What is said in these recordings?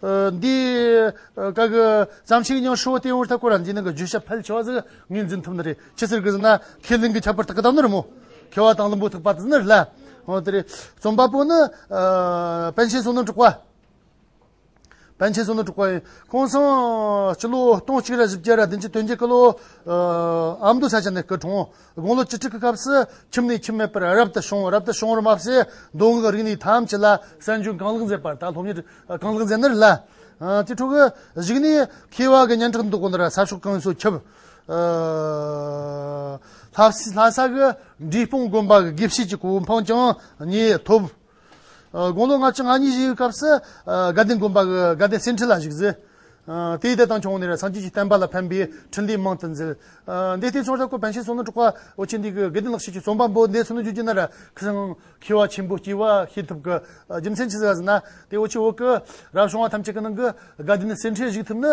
འདིའི་སྐབས་ཀྱི་བྱམས་ཆེན་ཉང་ཧྲོའི་སྟེང་འུར་ཐག་སྐོར་ར་འགྱིང་ནང་གི་བརྗོད་བྱ་ཕལ་ཆེ་བ་ཟིག་ངས་འཛིན་ཐུབ་ནི་རེད་ཅི་ཟེར་གི་ཟེར་ན་ཁས་ལེན་གྱི་ཁྱད་པར་དག་གི་དག་ནི་རེད་མོད། མཁས་བ་དང་ལུང་པོ་ཐུག་པ་དེ་ནི་རེད་ལ། འོ་དེ་རེད། རྩོམ་པ་པོ་ནི། པཎ་ཆེན་བསོད་ནམས་དྲུག་པ། པཎ་ཆེན་བསོད་ནམས་དྲུག་པ་ཡིན། ཁོང་སང་སྤྱི་ལོ་སྟོང་གཅིག་རེ་བཞི་བརྒྱད་རེ་བདུན་ཅུ་དོན་བརྒྱད་སྐུ་ལོ་ཨ་མདོ་ས་ཆ་ནས་སྐུ་གྲོངས། དགུང་ལོ་བཅུ་དྲུག་གི་སྐབས་སུ་ཁྱིམ་ནས་ཁྱིམ་མེད་པར་རབ་ཏུ་བྱུང་བ་རབ་ཏུ་བྱུང་བར་སྨྲ་བྱེད་མདོ་སྔགས་རིག་གནས་ཐམས་ཅད་ལ་གསན་སྦྱོང་གང་ལེགས་མཛད་པར་ད་ལྷོ་མྱུར་གང་ལེགས་མཛད་ནུར་བླ། དེ་འཕྲོ་བར་གཞིགས་ནས་མཁས་བ་གི་སྙན་གྲགས་འདུ་འགོད་ལ་ས་ཕྱོགས་གང་སོགས་ཁྱབ། ལྷ་ས་གི་འབྲས་སྤུངས་དགོན་པ་གི་དགེ་བཤེས་ཀྱི་གོ་འཕང་ཀྱང་ངས་ཐོབ། དགུང་ལོ་ལྔ་བཅུ་ང་གཉིས་བཞུགས་སྐབས་སུ། དགའ་ལྡན་དགོན་པ་དགའ་ལྡན་སེང་ཁྲི་ལ་བཞུགས། དེའི་ལྟས་དང་ཆུང་ནས་སངས་རྒྱས་ཀྱི་བསྟན་པ་ལ་ཕན་པའི་འཕྲིན་ལས་མང་དུ་མཛད། འདས་ལྟས་ཚོགས་བཅར་སྐོར་བན་ཤེལ་སོ་ནུ་དྲུག་པ་ཨོ་ཆེན་འདི་གི་དགེ་ལྡན་ལགས་ཤེས་ཀྱི་རྩོམ་པ་པོ་འདས་ཚུལ་ནུ་རྒྱུད་ཀྱི་ནར་ཁང་མཁས་བ་ཆེན་པོ་སྐྱེས་བ་ཤེས་ཐུབ་ཀྱི་རྒྱུ་མཚན་ཇི་ཟེར་བ་ཟེར་ན། དེའི་འོག་ཆུ་བོ་ཀུ་རབ་བྱུང་བ་ཐམས་ཅད་ཀྱི་ནང་གི་དགའ་ལྡན་སེང་ཁྲིར་བཞུགས་ཐུབ་ནི་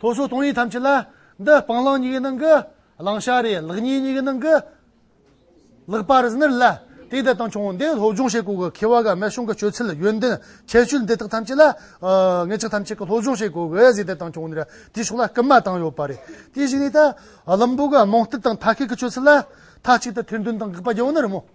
ལྷོ་ཕྱོགས་སྟོང་ཉིད་ཐམས་ཅད་ལ། འདི་སྤང་བླང་གཉིས་ཀའི་ནང་གི། བླང་བྱ་རེད་ལག་གཉིས་གཉིས་ཀའི་ནང་གི། ལེགས་པར་གཟིགས་ནུས་ལ། དེའི་འདི་དང་ཆུང་འདི་སློབ་སྦྱོང་བྱེད་སྒོ་གི་ཁེ་བ་ག་མེད་གཞུང་གི་སྤྱོད་ཚུལ་ཡོན་ཏན་ཁྱད་ཆོས་འདི་དག་ཐམས་ཅད་ལ། ངེད་ཅག་ཐམས་ཅད་ཀྱི་སློབ་སྦྱོང་བྱེད་སྒོ་གི་གཟིགས་འདི་དང་ཆུང་འདི་དེའི་ཕྱོགས་ལ་སྐུལ་མ་བཏང་ཡོད་པ་རེད། དེ་བཞིན་ནས་ད། བླུན་པོ་གི་རྨོངས་དད་དང་མཐའ་སྐད་ཀྱི་སྤྱོད་ཚུལ་ལ། མཐའ་གཅིག་ཏུ་ཐེར་འདོན་དང་དགག་པ་རྒྱག་འོས་ན་རུང་མོད།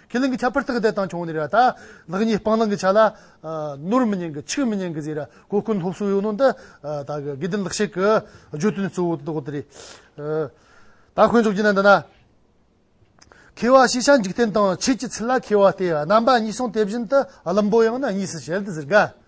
ཁས་ལེན་གྱི་ཆ་ཕར་ཐག་དད་དང་ཆུང་ནས་ར་ཐག། ལག་གཉིས་སྤང་བླང་གི་ཆ་ལ། ནོར་མི་ཉན་གྱི་ཆིག་མི་ཉན་གྱི་ཟེར། གོ་བསྐོན་སློབ་གསོའི་ཡོན་ཏན་འདི། དགེ་ལྡན་ལག་ཤེས་ཀྱི་བརྗོད་དོན་གཙོ་བོ་དེ་རེད། ད་དཀོན་མཆོག་ཅི་ན་འདི་ན། མཁས་བ་ཤེས་བྱ་འཇིག་རྟེན་དང་ཆོས་ཀྱི་ཚུལ་ལ་མཁས་བ་སྟེ་རྣམ་པ་གཉིས་སོང་དེ་བཞིན་དུ་བླུན་པོ་ཡང་ན་གཉིས་སུ་བྱེད་དེ་ཟེར་དགའ།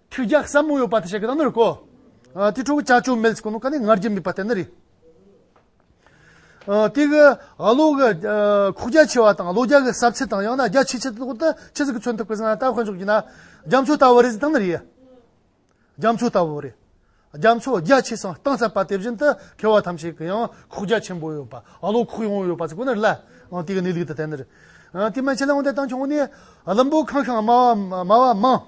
ཁྱོད་རྒྱག་བསམ་མོ་ཡོད་པ་དེ་བྱེད་གི་ད་ནི་རིག་གོ། དེ་ཕྲུ་གུ་བྱ་ཆོས་མེད་ཚིག་ནོ་ག་ནི་ངར་རྒྱུ་མེད་པ་དེ་ནི་རིག། དེ་གི་ཨ་ལོ་གི་ཁོག་རྒྱ་ཆེ་བ་དང་ཨ་ལོ་རྒྱ་གི་ཟབ་ཚད་དང་ཡང་ན་རྒྱ་ཆེ་ཆེ་དེ་ལྟ་བུ་དེ་ཁྱི་ཟིག་གི་མཚོན་ཐུབ་གི་ཟིན་ན་ད་ཁོས་འཇོག་གི་ན་རྒྱ་མཚོ་ལྟ་བུ་རེད་ཟིན་ད་ནི་རིག་ཡ། རྒྱ་མཚོ་ལྟ་བུ་རེད། རྒྱ་མཚོ་རྒྱ་ཆེ་སང་སྟངས་ཟབ་པ་དེ་བཞིན་དུ་ཁེ་བ་ཐམས་ཅད་ཀྱི་ཡང་ཁོག་རྒྱ་ཆེན་པོ་ཡོད་པ་ཨ་ལོ་ཁོག་ཡངས་བོ་ཡོད་པ་ཟིག་གོ་ནི་རིག་ལ། དེ་གི་ནི་ལུགས་དེ་དེ་ནི་རིག། དེ་མན་ཆད་ལ་འོན་ཏེ་ད་ཁྱོད་ངོ་ནི་ལམ་བུ་ཁང་ཁང་དམའ་བ་དམའ་བ་མང།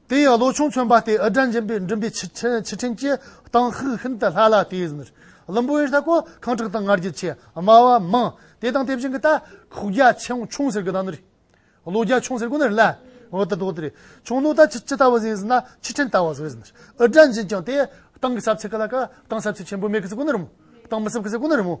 དེ་ཡང་ལོ་ཆུང་ཚོན་པ་སྟེ་ཨི་སྒྲ་འབྱིན་པའི་མགྲིན་པའི་ཕྱི་ཕྱི་ཕྲེང་གྱི་སྟངས་ཤུགས་ཤིན་ཏུ་སླ་ལ་དེ་ཡི་ཟིན། བླུན་པོ་ཨེར་ཐ་ཀོ་ཁང་ཁྲག་དང་ངར་རྒྱུད་ཆེ་དམའ་བ་མང། དེ་དང་དེ་བཞིན་གྱི་ད་ཁུག་རྒྱ་ཆེའང་ཆུང་ཟེར་གི་ད་ནི་རེད། ལོ་རྒྱ་ཆུང་ཟེར་གི་ནི་ལ་འོད་དུ་དོགས་ཏེ་རེད། ཆུང་ལོ་ད་ཇི་ཇི་ལྟ་བུ་ཟིན་ཟིན་ན་ཕྱི་ཕྲེང་ལྟ་བ་ཟོས་ཟིན། ཨི་སྒྲ་འབྱིན་ཀྱང་དེ་སྟངས་ཀྱི་ཟབ་ཚད་ག་ལ་ག་སྟངས་ཟབ་ཚད་ཆེན་པོ་མེད་གི་ཟེར་གི་ནི་རེད་མོད། སྟངས་མི་ཟབ་གི་ཟེར་གི་ནི་རེད་མོད།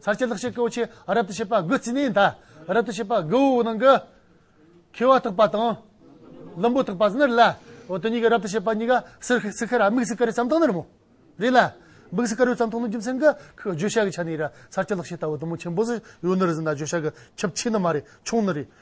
ཚར་བཅད་ལག་ཤེས་ཀོའུ་ཆེ་རབ་ཏུ་བྱེད་པ་དགུ་རྩིས་ནས་མཐའ་རབ་ཏུ་བྱེད་པ་དགུ་བོའི་ནང་གི། འཁྱིལ་བ་དག་པ་དང། ལུམ་བུ་དག་པ་སྣར་ལ། འོ་དོ་གཉིས་ཀྱི་རབ་ཏུ་བྱེད་པ་གཉིས་ཀ་སིར་ཧི་སི་ཁ་ར་དམིགས་སུ་ཀ་རའི་ཙམ་དང་ནར་མོ། རེ་ལ། དམིགས་སུ་ཀ་རའི་ཙམ་དང་ནི་རྒྱུ་མཚན་གྱི་ཁུ་བརྗོད་བྱ་གི་ཆ་ནས་ར་ཚར་བཅད་ལག་ཤེས་ལྟ་བུ་དུམ་བུ་ཆེན་པོ་སི་ཡོའི་སྣར་ཟིན་ན་བརྗོད་བྱ་གི་ཁྱབ་ཆེས་ནི་མ་རེད་ཆུང་ནི་རེད།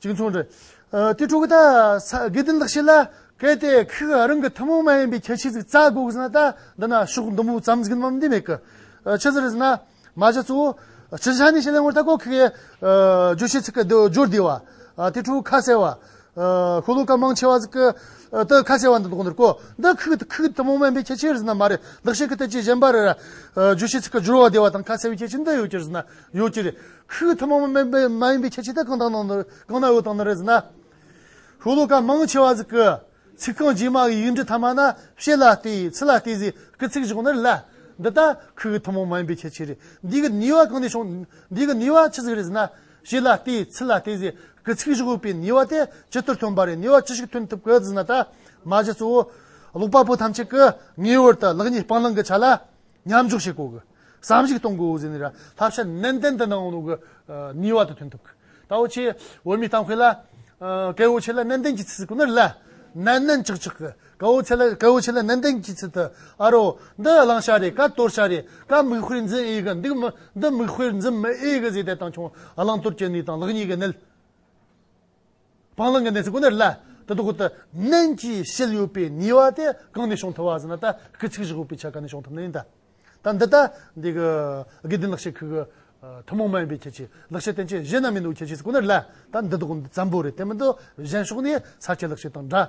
གཅིག་མཚུངས་རེད། དེ་དྲུག་ད་གེ་དེ་འདག་བྱེད་ལ་གལ་ཏེ་ཁོས་རང་གི་ཐུན་མོང་མ་ཡིན་པའི་ཁྱད་ཆོས་ཅིག་རྩ་དགོས་ཟེར་ན་ད་འདི་ན་ཤོག་འདི་མོ་བརྩམས་ཟིན་མམ་འདི་མེད་གི། ཕྱི་ཟེར་ཟེར་ན་མ་བྱ་གཙོ་བོ། སྤྱིར་ཆ་ནས་བྱེད་ལ་ངོ་ད་ཀོ་ཁེ་གེ། རྗོད་བྱེད་ཚིག་གི་སྦྱོར་བདེ་བ། དེ་དྲུག་ཁ་གསལ་བ། ཤོ་ལོ་ཀ་མང་ཆེ་བ་ཟིག་གི། དེ་ཁ་གསལ་བ་འདི་དོག་འདིར་གོ། འདི་ཁུག་དེ་ཁུག་ཐུན་མོང་མ་ཡིན་པའི་ཁྱད་ཆོས་རེད་ཟེར་ན་མ་རེད་འདག་བྱེད་ཀྱི་ཐད་ཀྱི་གཞན་པ་རེད། རྗོད་བྱེད་ཚིག་གི་སྦྱོར་བ་བདེ་བ་དང་ཁ་གསལ་བའི་ཁྱད་ཆོས་འདི་ཡོད་ཀྱི་རེད་ཟེར་ན་ཡོད་ཀྱི་རེད། ཧཱུྃ་ཐ་མ་མ་ཡིན་པའི་ཁྱད་ཆོས་དེ་གང་དང་གང་ན་འོད་དང་ན་རེ་ཟིན་ན། ཧཱུྃ་ལོ་ཀ་མང་ཆེ་བ་ཟིག་གི། ཚིག་རྐང་རྗེས་མ་གི་ཡིག་འབྲུ་ཐ་མ་ན་བཤད་ལ་ལྟོས་ཡིག་ཚིག་ལ་ལྟོས་ཟིག་གི་ཚིག་བཞག་ནི་ལ། འདི་ལྟར་ཧཱུྃ་ཐ་མ་མ་ཡིན་པའི་ཁྱད་ཆོས་རེད། འདི་གི་ནུས་བ་གང་ནས་བྱུང། འདི་གི་ནུས་བ་ཅི་ཟིག་རེད་ཟེར་ན། བཤད་ལ་ལྟོས་ཡིག་ཚིག་ལ་ལྟོས་ཟིག་གི་ཚིག་བཞག་པའི་ནུས་བ་དེ་ཇི་ལྟར་ཐོན་པ་རེད་ནུས་བ་ཅི་ཞིག་ཐོན་ཐུབ་གི་ཟིན་ན་ད་མ་གཞི་གཙོ་བོ། ཀློག་པ་པོ་ཐམས་ཅད་ཀི་ངེས་བར་དུ་ལག་གཉིས་སྤང་བླང་གི་ཆ་ལ། མཉམ་འཇོག་བྱེད་དགོས་ཀྱི། བསམ་གཞིག་གཏོང་དགོས་འོས་ཟེར་ནས་ར་བསླབ་བྱ་ནན་ཏན་དུ་གནང་རོགས་ཀྱི་ནུས་བ་དུ་ཐོན་ཐུབ་ཀྱི། ད་འོ་ཆེ་འོས་མི་གཏང་ཁོས་ལ། ཀའི་འོ་ཆེ་ལ་ནན་ཏན་གྱི་ཚིག་ཟེར་ཀུ་ན་རི་ལ། ནན་ནན་ཆག་ཆག་གི། ཀའི་འོ་ཆེ་ལ་ཀའི་འོ་ཆེ་ལ་ནན་ཏན་གྱི་ཚིག་དུ། ཨ་རོ། འདི་བླང་བྱ་རེད་ཀ་དོར་བྱ་རེད་ཀ་མིག་དཔེར་འཛིན་ཨེ་གི་འདུག་མི་འདི་མིག་དཔེར་འཛིན་མི་ཨེ་གི་ཟེར་དེ་དང་ཆུང་བླང་དོར་གྱི་གནས་དང་ལག་གཉིས་ཀྱི་གནད། སྤང་བླང་གི་གནས་ཚུལ་ཀུན་ནར་ལྷའི་དུ་ཁུ་དུ་མན་གྱིས་ཞལ་གཡོས་པའི་ཉེས་བ་དེ་གང་ནས་བྱུང་ཐུབ་བ་ཟེར་ན་ད་ཀི་ཚིག་བཞི་ཤོག་པའི་ཆ་ག་ནས་བྱུང་ཐུབ་ན་ཡིན་ད། ད་འདི་ལྟ། འདི་གི་དགེ་ལྡན་ལག་ཤེས་ཁུལ་གྱི་ཐུན་མོང་མ་ཡིན་པའི་ཁྱད་ཆོས་ལག་ཤེས་བསྟན་བཅོས་གཞན་རྣམས་ཡིན་འདུག་ཁྱད་ཆོས་ཀུན་ནར་ལྷའི་ད་འདི་དག་ཙམ་པོ་རེད་དེ་མིན་དུ་གཞན་ཕྱོགས་ནས་ས་སྐྱའི་ལག་ཤེས་དང་འདྲ།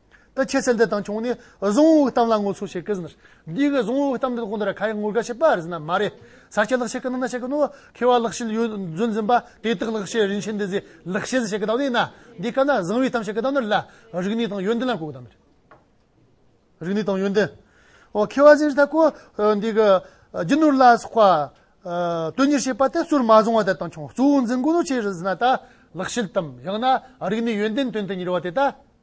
ད་ཁྱེད་ཚེ་འདི་དང་ཆུང་ནས་གཟུངས་འོག་གཏམ་ལ་ངོ་ཚུལ་བྱེད་ཀྱི། འདི་གི་གཟུངས་འོག་གཏམ་འདི་དགོངས་དོན་ར་ཁ་ཡི་ངོར་དགའ་བྱེད་པ་རེད་ཟེར་ན་མ་རེད། ཟ་ཁྱི་ལག་ཤེས་ཀྱི་ནང་ན་བཤད་ཀྱི་ནོ། ཁེ་བ་ལག་ཤེས་ཡོད་རྫུན་འཛིན་པ་དེ་དག་ལག་ཤེས་རིན་ཆེན་འདི་ཟེར་ལག་ཤེས་ཟེར་བྱེད་ཀྱི་གདམས་ངེས་ན། འདི་སྐབས་ན་གཟིང་བའི་གཏམ་བཤད་ཀྱི་གདམས་ངེས་ལ་རིག་གནས་དང་ཡོན་ཏན་ལ་གོ་གདམས་རེད། རིག་གནས་དང་ཡོན་ཏན། ཨོ་ཁེ་བ་ཟེར་ད་གོ། འདི་གི་རྒྱུ་ནོར་ལ་སོགས་པ། དོན་གཉེར་བྱེད་པ་དེ་གཙོར་མ་བཟུང་བ་དེ་དང་ཆུང་གཙོ་བོ་འཛིན་དགོས་ནོ་ཁྱེད་རེད་ཟེར་ན་ད་ལག་ཤེས་གཏམ་ཡང་ན་རིག་གནས་ཡོན་ཏན་དོན་དུ་གཉེར་བ་དེ་ད།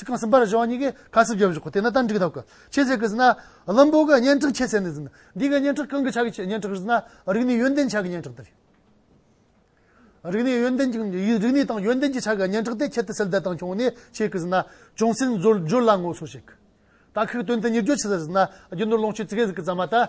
ཚིག་རྐང་གསུམ་པར་གཞུང་གཉིས་ཀས་ཁ་གསབ་བརྒྱབ་བཞུགས་དེ་ནི་ཏན་ཏིག་གདབ་གལ་ཆེ་ཟེར་གི་ཟིན། བླུན་པོ་གི་སྙན་གྲགས་ཆེ་ཟེར་ནས་ཟིན། འདི་གི་སྙན་གྲགས་གང་གི་ཆ་གི་སྙན་གྲགས་རེད་ཟེར་ན་རིག་གནས་ཡོན་ཏན་ཆ་གི་སྙན་གྲགས་དེ་རེད། རིག་གནས་ཡོན་ཏན་རིག་གནས་དང་ཡོན་ཏན་གྱི་ཆ་གི་སྙན་གྲགས་དེ་ཁྱད་དུ་སེལ་བདེ་དང་ཆུང་ནས་བྱེད་གི་ཟིན། ཅུང་ཟད་མཛོད་བརྗོད་ལ་ངོ་སོ་བྱེད་གི། དག་ཁག་དོན་དུ་གཉེར་རྒྱུ་ཅི་ཟེར་ཟིན་ན་རྒྱུ་ནོར་ལོངས་སྤྱོད་རྩིས་ཁེ་ཟིག་གི་རྩ་མ་ད།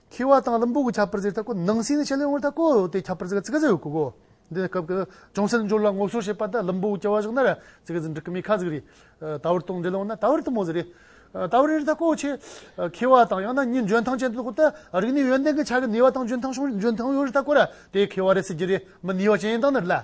ཁྱི་བ་དང་རིན་པོ་གི་ཁྱད་པར་ཟེར་ཐག་གོ། ནང་སེང་ནི་ཆད་ལས་ངོར་ཐག་གོ། དེའི་ཁྱད་པར་ཟེར་ཚིག་རྩེ་ཡོད་གོ། འདི་ནི་སྐབས་ཀྱི་ཅུང་ཟད་འབྱོར་ལ་ངོ་སོར་བྱེད་པ་དང་རིན་པོ་གི་སྐྱེ་བ་བཞག་ན། ཚིག་རྩེ་འབྲི་ཀི་མི་ཁ་ཟིག་རེད། ད་བར་དང་འབྲེལ་ལོང་ན་ད་བར་དུ་མོ་ཟེར་རེད། ད་བར་རིར་ཐག་གོ། ཁྱི་བ་དང་ཡང་ན་གཉིས་འཇོན་ཐང་ཅན་དུ་གོ། རིགས་ནི་ཡོན་ཏན་གྱི་ཆ་གི་ནུས་བ་དང་འཇོན་ཐང་ཡོད་རེ་ཐག་གོ། དེའི་ཁྱི་བ་རེད་ཟེར་གྱི་རེད། མི་ནུས་བ་ཅན་ཡིན་སྟངས་ནི་རེད་ལ།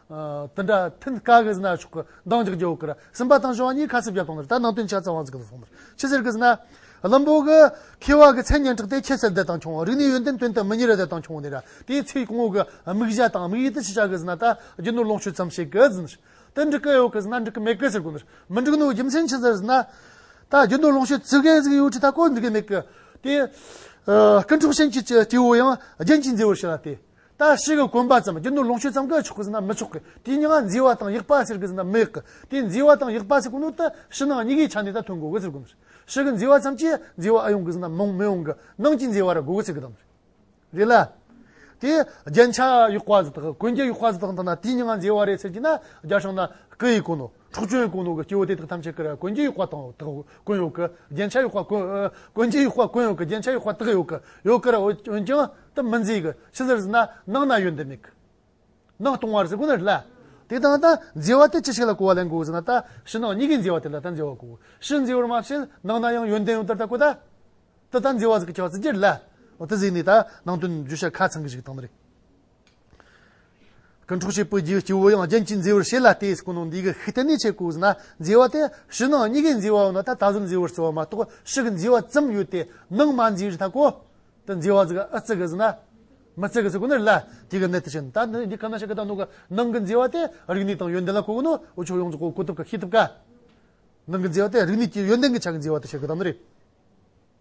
དེ་འདྲ་ཐིན་དཀའ་གི་ཟིན་ན་ཆོག་གི་འདང་རྒྱག་རྒྱུ་ཀིར་སིམ་པ་དང་ཞོ་བ་གཉིས་ཁ་སིབ་བརྒྱབ་སྟོང་ནི་ད་ནང་དོན་ཆ་ཚང་བ་ཟིག་གི་སོང་ནི་ཅི་ཟེར་གི་ཟིན་ན། བླུན་པོ་གི་ཁེ་བ་གི་མཚན་སྙན་གྲགས་ཏེ་ཁྱད་གསད་བདེ་ཐང་ཆུང་བ་རིག་ནས་ཡོན་ཏན་དོན་དུ་མི་གཉེར་བ་བདེ་ཐང་ཆུང་བ་ནི་ར་དེའི་ཚེ་གོང་འོག་གི་དམིགས་བྱ་དང་དམིགས་ཡུལ་དེ་ཅི་ཆགས་གི་ཟིན་ན་ད་རྒྱུ་ནོར་ལོངས་སྤྱོད་ཙམ་བྱེད་གི་ཟིན་ནི་དེ་འགྲིག་གི་ཡོད་གི་ཟིན་ན་འགྲིག་གི་མེད་གི་ཟེར་གི་ནི་མི་འགྲིག་ནོ་རྒྱུ་མཚན་ཅི་ཟེར་ཟིན་ན། ད་རྒྱུ་ནོར་ལོངས་སྤྱོད་ཙི་གེ་ཟིག་ཡོད་ཀྱི་ད་གོ་འགྲིག་གི་མེད་གི་དེ། ཀི་འཕྲོག་ཤན་གྱི་སྐྱེ་བོ་ཡང་རྒྱན་གྱིས་མཛེས་བར་བྱེད་ལ་དེ་ལྟ་བྱེད་ཀྱི་གོམས་པ་ཙམ་རྒྱུ་ནོར་ལོངས་སྤྱོད་ཙམ་གྱིས་ཆོག་གི་ཟིན་ན་མི་ཆོག་གི་དེའི་མྱི་ང་འཛིན་བ་དང་ཡིག་པ་ཟེར་གི་ཟིན་ན་མི་ཡག་གི་དེའི་འཛིན་བ་དང་ཡིག་པ་ཟེར་གི་ནོར་ལྟ་ཕྱི་ནང་གཉི་གའི་ཆ་ནས་ད་ཐོན་དགོས་གི་ཟེར་དགོས་ཞིག་གི་འཛིན་བ་ཙམ་གྱིས་འཛིན་བ་ཨ་ཡོང་གི་ཟིན་ན་མོང་མི་ཡོང་གི་ནང་གྱི་འཛིན་བ་ར་དགོས་གི་ཟེར་གི་དང་རེད་ལ། དེ་རྒྱན་ཆ་ཡིག་པ་ཟེར་དག་གི་གོན་རྒྱ་ཡིག་པ་ཟེར་དག་དང་ན་དེའི་མྱི་ང་འཛིན་བ་རེད་ཟེར་གྱི་ན་རྒྱ་ཤོང་ན་གི་ཡིག་གོ་ནོ། འཕྲོག་བྱོལ་ཀུན་སློང་གི་སྐྱེ་བོ་དེ་དག་ཐམས་ཅད་ཀྱི་རེ་ཀོན་གྱི་གཡོག་པ་དང་དག་ཀུན་ཡོད་ཀྱི་རྒྱན་ཆ་གཡོག་པ་ཀུན་ཀུན་གྱི་གཡོག་པ་ཀུན་ཡོད་ཀྱི་རྒྱན་ཆ་གཡོག་པ་དག་ཡོད་ཀྱི་ཡོད་ཀྱི་རེ་འོན་ཀྱང་དེ་མི་མཛེས་ཀྱི་ཕྱི་ཟེར་ཟིན་ན་ནང་ན་ཡོད་འདི་མེད་ཀྱི་ནང་སྟོང་བར་ཟེར་ཀུན་རེ་ལ། དེ་དག་ད་མཛེས་བ་དེ་ཅི་ཞིག་ལ་གོ་བ་ལེན་དགོས་ཟེར་ན་ད་ཕྱི་ནང་གཉིས་ཀའི་མཛེས་བ་དེ་ལ་ད་མཛེས་བ་གོ་ཕྱི་མཛེས་བར་མ་བྱེད་ནང་ན་ཡང་ཡོན་ཏན་ཡོད་དེར་ད་གོ་ད་དེ་ད་མཛེས་བ་ཟེར་གྱི་ཆ་བ་ཟེར་གྱི་རེ་ལ། དེ་ཟེར་ནས་ད་ནང་དོན་བརྗོད་བྱ་ཁ་ཚང་གི་ཞིག་བཏང་ན་རེ། སྐུ་འཕྲོག་བྱེད་པོའི་རྒྱུའི་སྐྱེ་བོ་ཡང་རྒྱན་གྱིས་མཛེས་པར་བྱེད་ལ་དེས་སྐུ་ནང་འདུས་ཀྱི་ཤུགས་གཏན་ནས་ཆད་ཀོ་ཟིན་ན་མཛེས་བ་དེ་ཕྱི་ནང་གཉིས་ཀས་མཛེས་བའོ་ན་ད་ད་གཟོད་མཛེས་བར་བརྩི་བ་མ་གཏོགས་ཕྱི་གི་མཛེས་བ་ཙམ་ཡོད་དེ་ནང་མ་མཛེས་རི་དྭགས་ཀོ། དེ་མཛེས་བ་ཟིག་ཨ་བརྩི་གི་ཟིན་ན། མི་བརྩི་གི་ཟིག་ཀོ་ནི་རི་ལ་དེ་གི་གནད་དེ་བཞིན་ད་འདི་འདི་ག་ན་ཞིག་གི་དང་ནང་གི་ནང་གི་མཛེས་བ་དེ་རིག་ནུས་དང་ཡོན་ཏན་ལ་གོ་གི་ནོ་འོ་ཆོག་ཡོངས་རྫོགས་གོ་ཐུབ་ག་ཤེས་ཐུབ་ག། ནང་གི་མཛེས་བ་དེ་རིག་ནུས་ཀྱི་ཡོན་ཏན་གྱི་ཆ་གི་མཛེས་བ་དེ་བྱེད་གི་དང་ནི་རེད།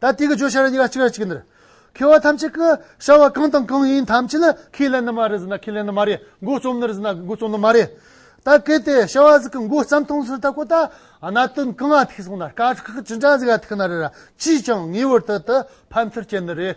ད་ལྟའི་གི་ཇོ་ཤ་ར་ཉིད་ལ་གཅིག་ར་གཅིག་འདིར། ཁེ་བ་ཐམས་ཅད་ཀི་བྱ་བ་གང་དང་གང་ཡིན་ཐམས་ཅད་ནི་ཁས་ལེན་ནི་མ་རེད་ཟེར་ན་ཁས་ལེན་ནི་མ་རེད་འགོ་རྩོམ་ནི་རེད་ཟེར་ན་འགོ་རྩོམ་ནི་མ་རེད། ད་གལ་ཏེ་བྱ་བ་ཟིག་གི་འགོ་རྩམ་ཐང་ཟིག་ད་ཁོ་ད་གནའ་དོན་གང་ང་ཐིག་སོང་ན་དཀའ་ཁག་ཅི་འདྲ་ཟིག་ཡ་ཐིག་ན་རེད་ར་ཅིས་ཀྱང་ངེས་བར་དུ་དུ་ཕམ་ཚུར་སྐྱེལ་ནི་རེད།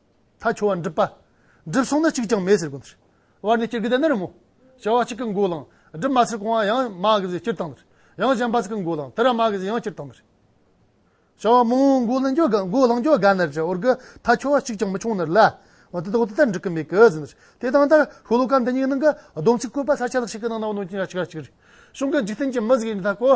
ཐ་ཆུ་བ་འགྲིབ་པ། འགྲིབ་སོང་ན་གཅིག་ཀྱང་མེད་ཟེར་དགོས་མཐར། བར་ནས་སྐྱེར་གི་དེ་ནི་རི་མོ། བྱ་བ་གཅིག་གི་མགོ་བླངས། སྒྲིབ་མ་ཚིག་གོང་བ་ཡང་མ་གི་ཟེར་སྐྱེར་བཏང་མཐར། ཡང་གཞན་པ་ཚིག་གི་མགོ་བླངས། དེ་ར་མ་གི་ཟེར་ཡང་སྐྱེར་བཏང་མཐར། བྱ་བ་མང་བོའི་མགོ་བླངས་རྒྱུ་དགའ་ནར་གྱི་འོར་གི་ཐ་ཆུ་བ་གཅིག་ཀྱང་མི་ཆུང་ནར་ལ། འོ་དེ་དག་དེ་ལྟར་འགྲིག་གི་མེད་གི་ཟེར་མཐར། དེ་དང་ལྟར་ཤོ་ལོ་ཀ་འདི་ཉིད་ནང་གི་སྡོམ་ཚིག་བཀོད་པ་ས་ཆ་ལག་ཤེས་ཀྱི་ནང་ན་བ་ནོན་ཅིང་ར་ཆིག་ར་ཆིག་རེད། གཞུང་གི་འཇིག་རྟེན་གྱི་མི་ཟེར་གྱི་འདི་དག་གོ།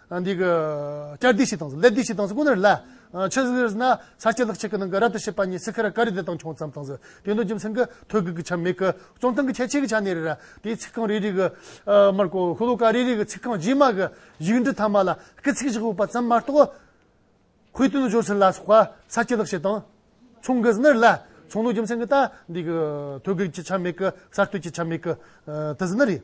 འདི་གི་སྐྱར་ཟློས་ཤིག་དང་ཟློས་ཟློས་ཤིག་དང་ཁོ་ནར་བསླད། ཆོས་ཟེར་བ་ན་ས་སྐྱ་ལག་གཅིག་གི་ནང་གི་རབ་ཏུ་ཕྱེད་པ་ཉིད་སི་ཁ་ར་ཀ་རི་དེ་དང་ཆུང་ཙམ་དང་ཟེར་དེ་འདུག་རྒྱུ་མཚན་གྱི་ཐོད་བརྒལ་གྱི་ཆ་མེད་ཀི་རྩོམ་སྟངས་ཀྱི་ཁྱད་ཆོས་ཀྱི་ཆ་ནས་རེད། དེའི་ཚིག་རྐང་རེ་རེ་གི། མར་ཀོ་ཧུ་ལོ་ཀ་རེ་རེ་གི་ཚིག་རྐང་རྗེས་མ་གི་ཡིག་འབྲུ་ཐ་མ་ལ་སྐད་ཚིག་བཞག་ཡོད་པ་ཙམ་མ་གཏོགས། ཁོའི་དོན་དུ་སྦྱོར་ཚུལ་ལ་སོགས་པ་ས་སྐྱ་ལག་ཤེས་དང། ཆུང་གི་ཟེར་ནར་བསླད། ཆུང་འདུག་རྒྱུ་མཚན་གྱི་ད་འདི་གི་ཐོད་བརྒལ་གྱི་ཆ་མེད་ཀི་གསར་གཏོད་ཀྱི་ཆ་མེད་ཀི། དེ་ཟེར་ནི་རེད།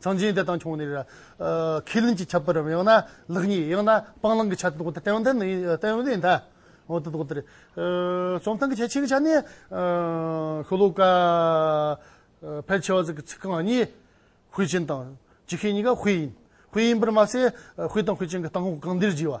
གཙང་ཆེན་དེ་དང་ཆུང་ནས། ཁས་ལེན་གྱི་ཁྱད་པར་རམ་ཡང་ན་ལེགས་ཉེས་ཡང་ན་སྤང་བླང་གི་ཆ་དེ་དག་དང་ལྡན་ལྡན་ཡིན་ད། འོ་དེ་དག་དེ་རེད། རྩོམ་སྟངས་གལ་ཆེ་གི་ཆ་ནས། ཤོ་ལོ་ཀ། ཕལ་ཆེ་བ་ཟེར་གི་ཚིག་རྐང་གཉིས། དཔེ་ཅན་དང། ཇི་སྐད་གཉིས་ཀ་དཔེ་ཡིན། དཔེ་ཡིན་པར་མ་ཟད། དཔེ་དང་དཔེ་ཅན་གྱི་སྟངས་འོག་གང་བདེར་བགྱི་བ།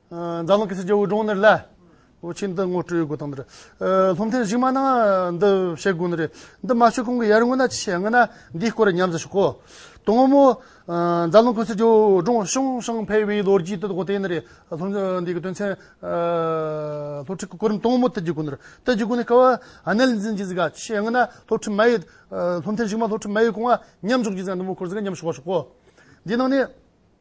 འཛམ་གླིང་གི་སྲིད་ཇུས་འོས་སྦྱོང་ནི་ལ་བོ་ཆེན་དུ་ངོ་སྤྲོད་ཡོད་དགོས་དང་འདིར་སློབ་མཐིལ་གཞིགས་མ་གནང་འདི་བཤད་དགོས་ནི་རེད་འདི་མ་ཤོད་གོང་གི་ཡར་སྔོན་ན་ཅི་བྱས་ངན་ན་འདིའི་སྐོར་ལ་ཉམས་ཟ་ཞིག་གོ་དོ་ངོ་མོ་འཛམ་གླིང་གི་སྲིད་ཇུས་འོས་སྦྱོང་ཤང་ཤང་འཕེལ་བའི་ལོ་རྒྱུས་དེ་དག་དེ་ནི་རེད་སློབ་འབྲིང་འདིའི་དོན་ཚན་སློབ་ཁྲིད་ཀྱི་གོ་རིམ་དང་མོ་དེ་བརྒྱུད་དགོས་ནི་རེད་དེ་བརྒྱུད་དགོས་ནས་སྐབས་གནད་ལ་འཛིན་གྱི་ཟིག་ག་ཅི་བྱས་ངན་ན་སློབ་ཁྲིད་མ་ཡོད་སློབ་མཐིལ་གཞིགས་མ་སློབ་ཁྲིད་མ་ཡོད་གོང་ལ་ཉམས་འཇོག་གྱི་ཟིག་ག་འདི་མོ་འཁོར་ཟིག་ག་ཉམས་ཞུགས་པ་ཞིག་གོ་འདིའི་ནང་ནས་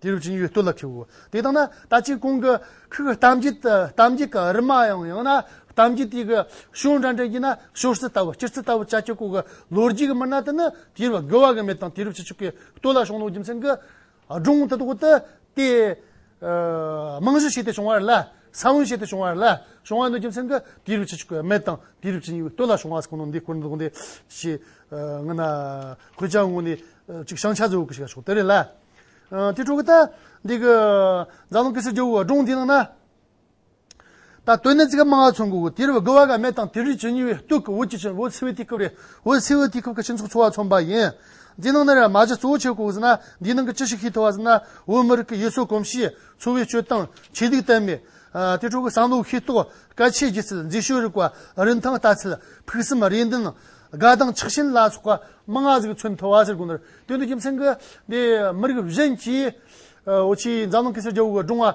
དེ་རུ་བྱིན་ཡོད་བསྟོད་ལ་ཁྲིའོ། དེ་ལྟ་ན་ད་ཅིག་གོང་གི་ཁུག་གཏམ་རྒྱུད་དུ་གཏམ་རྒྱུད་ག་རི་མ་ཡང་ཡང་ན་གཏམ་རྒྱུད་དེ་གི་ཤོག་འདྲ་འདྲ་གྱིས་ན་ཤོག་སེར་ལྟ་བུ་སྤྱིར་ཚིག་ལྟ་བུ་ཅག་ཀྱང་གོ་གི་ལོ་རྒྱུས་ཀྱི་མི་སྣ་དེ་ནི་དེ་རུ་དགེ་བ་དགེ་མེད་དང་དེ་རུ་བྱེད་ཆོག་གི་བསྟོད་ལ་ཤོག་ནོག་རྒྱུ་མཚན་གྱི་སྒྲུང་དེ་དག་ཏུ་དེ་རྨང་གཞི་ཞིག་ཏུ་བྱུང་བ་རེད་ལ། ས་བོན་ཞིག་ཏུ་བྱུང་བ་རེད་ལ། བྱུང་བ་འདོད་ཀྱི་མཚན་དུ་དེའི་རུ་ཆི་ཆི་ཀོའི་མེ་དང་དེའི་རུ་ཆི་གཉིས་པོའི་སྟོད་ལ་བྱུང་བ་ཁོ་ན་འདི་བཀོད་འདུག་འདི་ཞེས་ངོ་ན་ཁོའི་ཅང་ངོ་ནས་ཅིག་བྱང་ཆ་ཟོ་གི་ཞིག་ལ་ཆོག་དེ་རེད་ལ། དེའི་ཁྲོད་དུ་ད་འདི་གི་རྫ་ལུང་ཀི་སི་རྒྱལ་བོའི་སྒྲུང་འདི་ནང་ན། ད་དོན་ནི་ཙི་ག་མང་བ་ཚོང་གི་འོ་དེར་བ་གི་བ་ག་མེ་དང་དེ་རིགས་ཇི་ཉི་བའི་སྟུག་གི་འོ་ཅི་ཆེན་འོ་ཚི་བའི་དུས་སྐབས་རེད་འོ་ཚི་བའི་དུས་སྐབས་ཀྱི་སྤྱི་ཚོགས་འཚོ་བ་ཚོང་པ་ཡིན། འདི་ནང་ན་ར་མ་གཞི་གཙོ་བོ་ཆེ་གོ་ཟིན་ན་འདིའི་ནང་གི་ཅི་ཞིག་ཤེས་ཐུབ་བ་ཟིན་ན་འོ་མི་རིགས་ཀྱི་ཡུལ་སྲོལ་གོམས་གཤིས་འཚོ་བའི་སྤྱོད་སྟངས་ཆོས་སྡིག་གཏད་མེད། དེ་ཕྲུ་གུ་བསམ་བློའི་ཤེས་རྟོགས་སྐད་ཆའི་སྒྱུ་རྩལ་མཛེས་ཤོས་རིག་པ་རིན་ཐང་ལྟ་ཚུལ་ཕུགས་བསམ་རེ་འདུན་དགའ་སྡང་ཆགས་ཞེན་ལ་སོགས་པ་མང་བ་ཟིག་མཚོན་ཐུབ་བ་ཟེར་དགོས་ནི་རེད་དོན་དུ་རྒྱུ་མཚན་གྱི་འདི་མི་རིགས་གཞན་གྱིས་འོ་ཆེའི་འཛམ་གླིང་གི་སེར་སྐྱ་བོ་གི་སྒྲུང་བ་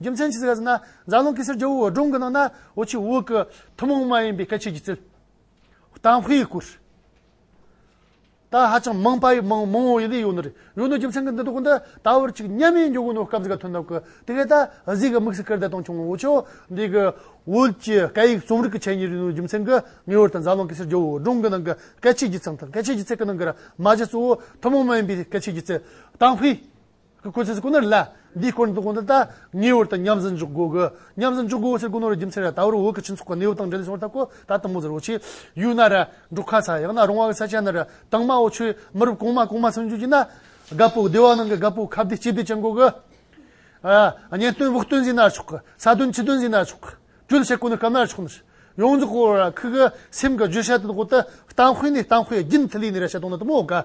རྒྱུ་མཚན་ཇི་སྲིད་ག་ཟེར་ན་རྫ་ཀླུང་གེ་སར་རྒྱལ་བོའི་འོད་སྒྲུང་གི་ནང་ན་འོ་ཆུའི་དབུས་ཀྱི་ཐུན་མོང་མ་ཡིན་པའི་སྐད་ཆའི་སྒྱུ་རྩལ། དང་བྷི་ཡི་སྐུར། དང་ཧ་ཅང་མང་པ་ཡི་མང་མང་བོ་ཡི་ལས་ཡོད་ནོ་རེད་ཡོད་ནོ་རྒྱུ་མཚན་གྱི་འདི་དོག་འདི་ད་བར་ཅིག་གཉའ་མའི་འཇོག་གི་ནོ་སྐབས་ཟིག་ག་ཐོན་ཐབས་ཀྱི་དེ་གས་ད་གཟིགས་གི་དམིགས་སུ་ཀིར་ད་དང་ཆུང་འོ་ཆུ་འདི་གི་དབུས་ཀྱི་སྐད་ཡིག་རྩོམ་རིག་གི་ཆེད་ཉིད་རེད་ནོ་རྒྱུ་མཚན་གྱི་ངེས་བར་དུ་རྫ་ཀླུང་གེ་སར་རྒྱལ་བོའི་འོད་སྒྲུང་གི་ནང་གི་སྐད་ཆའི་སྒྱུ་རྩལ་དང་སྐད་ཆའི་སྒྱུ་རྩལ་གྱི་ནང་གི་ར་མ་གཞི་གཙོ་བོ་ཐུན་མོང་མ་ཡིན་པའི་སྐད་ཆའི་སྒྱུ་རྩལ། དང་བྷི། གི་གོ་ཆས་སུ་ཀུ་ནུ་རི་ལ་འདིའི་སྐོར་འདོན་གོང་དུ་དང་ངེས་བར་དུ་མཉམ་ཟིན་འཇོག་དགོས། མཉམ་ཟིན་འཇོག་དགོས་ཕྱིར་ཀུ་ནུ་རི་རྒྱུ་མཚན་རེད་ད་བར་འོག་གི་སྤྱི་ཚོགས་ཀྱི་གནས་བབ་དང་འབྲེལ་ལས་བྱུང་བར་ཐག་གོ་ད་དང་པོ་ཟེར་བ་ཆེས་ཡུལ་ན་ར་འབྲོག་ཁ་ས་ཡང་ན་རོང་བ་ས་ཆ་ན་ར་དྭངས་མ་འོ་ཆུའི་མི་རབས་གོང་མ་གོང་མ་སུན་འབྱུང་གྱི་ན་རྒ་པོ་སྡེ་བ་ནང་གི་རྒ་པོ་ཁ་བདེ་སྐྱིད་བདེ་ཅན་གོ་གི། གཉེན་སྟོན་དབུགས་སྟོན་ཟིན་ན་ཆོག་གི་ས་དོན་ཆུ་དོན་ཟིན་ན་ཆོག་གི་སྤྲུལ་བྱེད་ཀུ་ནུ་སྐབས་ན་ཆོག་ནི་ཡོངས་རྫོགས་གོ་ར་ཁི་གི་སེམས་ཀྱི་བརྗོད་བྱ་དེ་དག་གོ་ཏི་བཏང་དཔེ་ནི་བཏང་དཔེ་རྒྱུན་མཐུད་ལས་ནི་ར་བྱེད་སྟངས་ནི་དུ་མོ་ག།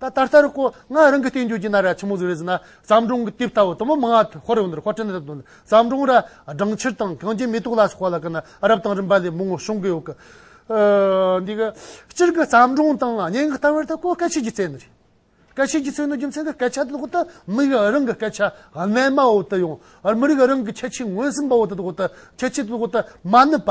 ད་ད་ལྟར་ཁོ་ང་རང་གི་བསྟན་བཅོས་ཀྱི་ན་ར་ཆེན་མོ་ཟིག་རེད་ཟེར་ན་བརྩམས་སྒྲུང་གི་དེབ་ལྟ་བུ་དུ་མ་མང་བ་ཧོར་འོན་རེད་ཧོར་ཁྲོད་ན་རེད་བརྩམས་སྒྲུང་ར་སྦྲང་ཕྱིར་དང་གངས་ཅན་མེ་ཏོག་ལ་སོགས་པ་ལ་དགའ་ན་རབ་དང་རིམ་པ་ལས་མོ་ངོ་ཤོང་གི་ཡོད་གི། འདི་གི་སྤྱིར་གི་བརྩམས་སྒྲུང་དང་སྙན་ངག་ལྟ་བུར་ད་ཁོ་སྐད་ཆས་ཀྱི་རྩལ་ནི་རེད། སྐད་ཆས་ཀྱི་རྩལ་ནི་རྒྱུ་མཚན་གྱི་སྐད་ཆ་དེ་ལོག་ལྟ་མི་རིགས་རང་གི་སྐད་ཆ་རྣལ་མ་འོག་ཏུ་ཡོང། མི་རིགས་རང་གི་ཁྱད་ཆོས་ངོས་ཟིན་པ་འོག་ཏུ་ལོག་ལྟ་ཁྱད་ཆོས་དེ་ལོག་ལྟ་མ་ནུས་པ།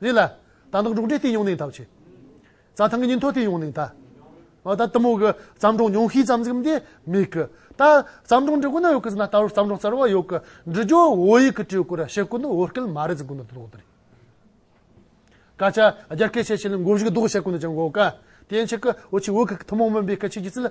རེད་ལ། ད་ནག་འབྲོག་འདྲེ་སྟེ་ཡོང་ནིང་ཐག་ཆོད། རྩྭ་ཐང་གི་ཉིན་ཐོ་དེ་ཡོང་ནིང་ཐག། ཨོ་ད་ཏི་མོ་གི་བརྩམས་སྒྲུང་ཉུང་ཤས་ཙམ་གཟིགས་འདི་མེད་གི། ད་བརྩམས་སྒྲུང་འབྲི་དགོས་ན་ཡོད་གི་ཟེར་ན་ལྟ་བུར་བརྩམས་སྒྲུང་གསར་བ་ཡོད་གི་འབྲི་རྒྱུ་བོད་ཡིག་གི་སྤྲུལ་སྐུ་ར་ཤི་སྐུ་འདུག་བོད་སྐད་མ་རེད་ཟེར་དགོས་ན་དོགས་འདི་རེད། སྐད་ཆ་རྒྱ་སྐད་བཤད་བྱས་ལ་འགོ་བཞུགས་ལྡོག་བྱེད་དགོས་ན་ཅང་འགོག་ག་དེ་ཡན་ཆད་ཀི་འོ་ཆི་བོད་ཁུལ་གི་ཐུན་མོང་མིན་པའི་སྐད་ཆའི་སྒྱུ་རྩལ།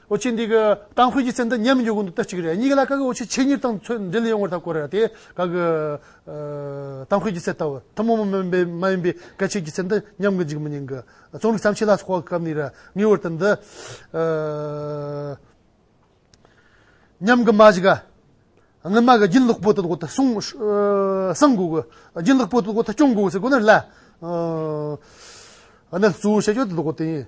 ཨོ་ཆེ་འདི་གི་ཏང་ཤོས་ཀྱི་ཚད་འདི་ཉམས་མི་འགྱུར་གོང་དུ་བསྟར་གཅིག་རེད་གཉིས་ཀ་ལ་ཀ་གི་ཨོ་ཆེ་ཆེད་གཉེར་དང་ཚོད་འབྲེལ་ཡོང་བར་ཐག་བཀོད་རེད་དེ་ག་གི་ཏང་ཤོས་ཀྱི་ཚད་ལྟ་བུ་ཐུན་མོང་མ་མིན་པའི་མ་ཡིན་པའི་གལ་ཆེ་གི་ཚད་འདི་ཉམས་གི་འཇུག་མི་ཉན་གི་རྩོམ་རིག་བརྩམས་ཆོས་ལ་སོགས་པ་གམ་ནི་ར་ངའི་བར་དུ་འདི་ཉམས་གི་མ་གཞི་ག་ངི་མ་གི་རྒྱུན་ལོག་པོ་དོད་དགོ་དུ་སོང་སང་དགོ་གི་རྒྱུན་ལོག་པོ་དོད་དགོ་དུ་སྐྱོང་དགོ་གི་སེ་གོ་ནི་ལ་ནི་གཙོ་བོ་བྱེད་ཆོག་དོད་དགོ་དུ་ཡིན།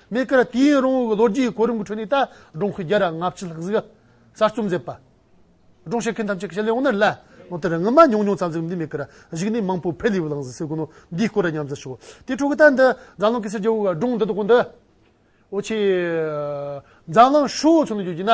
གནས་སྐབས་དུས་ཡུན་རིང་བོའི་ལོ་རྒྱུས་གོ་རིམ་གྱི་ཁྲོད་ནས་ད་སྒྲོམ་ཁུལ་རྒྱལ་རབས་ལྔ་བཅུའི་ལྷག་གཟིགས་གསར་རྩོམ་མཛད་པ། སྒྲོམ་བཤད་མཁན་ཐམས་ཅད་ཀྱི་ཞལ་ལས་འོངས་ནས་ལན། ལོ་དེར་ངུ་མ་ཉུང་ཉུང་ཙམ་གཟིགས་འདི་མེད་ཁར་གཞིགས་ནས་མང་པོའི་ཕལ་ལེའུ་བླངས་ཟིན་ཟེར་དགོས་ནོ། འདིའི་སྐོར་ལ་མཉམ་བརྩི་ཞུ། དེའི་ཁྲོད་ཀྱི་ད་འདི་འཛམ་གླིང་གེ་སར་རྒྱལ་པོའི་སྒྲུང་འདི་དག་གོ་འདི། འོ་ཆེ། འཛམ་གླིང་ཧྲིལ་བོ་ཚུན་དུ་བརྗོད་རྒྱུ་ན།